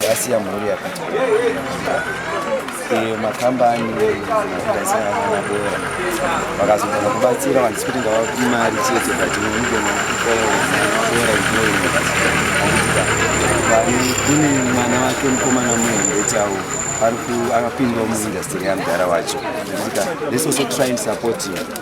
Gasi ya mhuri yakati iyo makambani kugadzira vana bora vakazogona kubatsira vanhu sikuti ngavapi mari chete but unogona kukoabora kune mwana wake mukomana muhombe chawo ari akapindwa muindastiri yamudhara wacho this also trying support you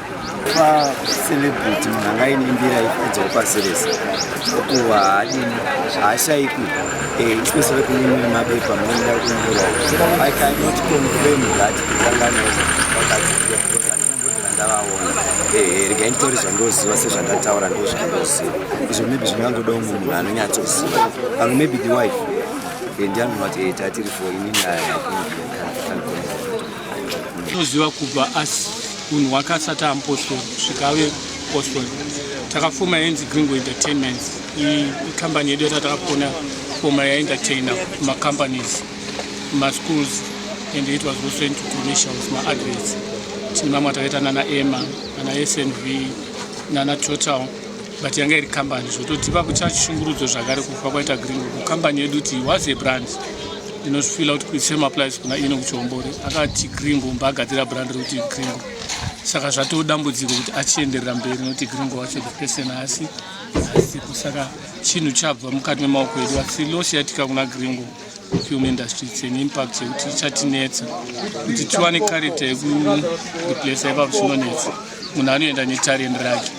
celebrity munhu angainimbira ifudzawo pasi rese kuva haadini haashaikwi eh, especially kune imwe mabepa munoenda kunyura i cannot confirm that kutangana ndavaona eh, rega nditori zvandoziva sezvandataura ndo zvandoziva izvo maybe zvingangodawo mumwe munhu anonyatsoziva pamwe maybe the wife eh, ndianonati tatiri fo inini ayaa tinoziva kubva asi unhu hwakasati ampostori kusvika ave postori takafoma yenzi gringo entertainments ikambani yedu yata takafona foma yaentertaina macompanies maschools and it was also into commercials maadverts tine mamwe atakaita nana ema nana snv nana total but yanga iri kambani zvototipa kuchachishungurudzo zvakare kufa kwaita gringo kukambani yedu ti was a brand ndinozvifila kuti kuise maplice kuna ino kuchihombore akati gringo mbaagadzira brand rekuti gringo saka zvatoo dambudziko kuti achienderera mberi nokuti gringo wacho the person asi asipo saka chinhu chabva mukati memaoko edu asi loss yatika kuna gringo film industry its an impact yekuti ichatinetsa kuti tiwane character yekureplace ipapo chinonetsa munhu anoenda netarend rake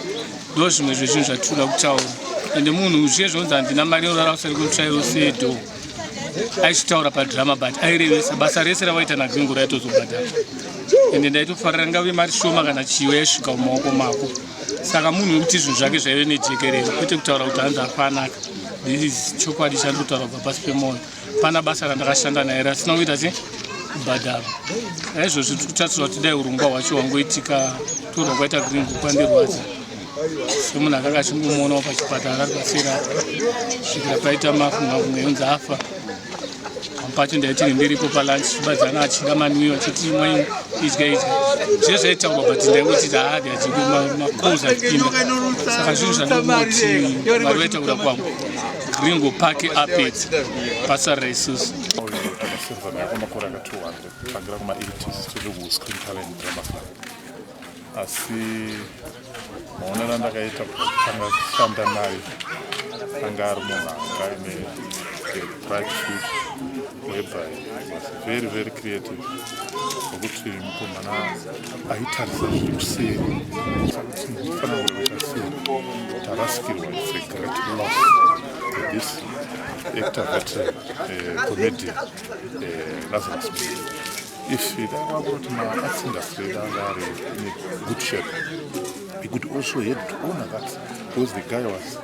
ndo zvimwe zvezvinhu zvatinoda kutaura ende munhu zviye zvinonzi handina mari yorara usari kutsvairo sedo aichitaura padrama but airevesa basa rese ravaita nagringo raitozobhadhara ende ndaitofarira ngave mari shoma kana chiyo yaisvika mumaoko mako saka munhu wekuti zvinhu zvake zvaive nejekerero kwete kutaura kuti hanzi afanaka this chokwadi chandikutaura kubva pasi pemwoyo pana basa randakashanda naye rasina kuita se kubhadhara aizvozvi tiri kutarisira kuti dai urongwa hwacho hwangoitika torwa kwaita gringo kwandirwadza semunhu akanga achingomuonawo pachipatara ari pasira svikira paita mafungafumga yonzi afa pamwe pacho ndaitini ndiripo palunch chibadziana achida manwiyo achiti imwe idya idya zve zvaitaurwa but ndaingotiti haadi achidi macols achipinda saka zvinhu zvanongoti vari vaitaura kwangu ringo pake apedzi basa raisusu Silver Miracle Makoranga 200 tangira kuma 80s tiri ku Screen Talent Drama Club asi maonero andakaita kutanga kushanda naye anga ari munhu anga ine bright future whereby was very very creative nokuti mukomana aitarisa zviri kuseri kuti ndifana kuita sei tarasikirwa its a great loss this actor that uh, eh, comedian uh, eh, lazarus If you don't want to my arts industry down there in a good shape, he could also help to honor that because the guy was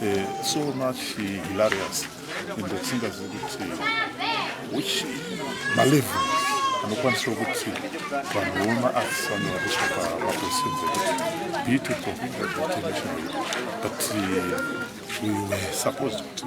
uh, so much uh, hilarious in the singers kuti which malevel anokwanisa kuti vanhu voma arts vanovariswa pamaposienzi ekuti be it a professional but uh, we were supposed kuti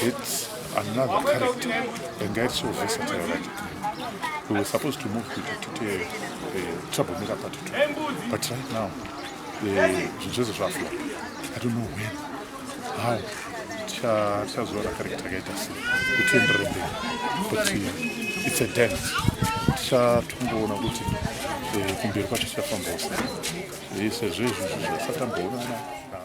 It's another character, a guy so versatile like it. We were supposed to move to, to, to a, a troublemaker part two, but right now, the Joseph Rafla, I don't know when, how, tichazora character yakaita sei kutienderere mberi kuti it's a dance tichatongoona kuti eh, kumberi kwacho tichafambawo sei eh, sezvo izvozvo zvasatamboonana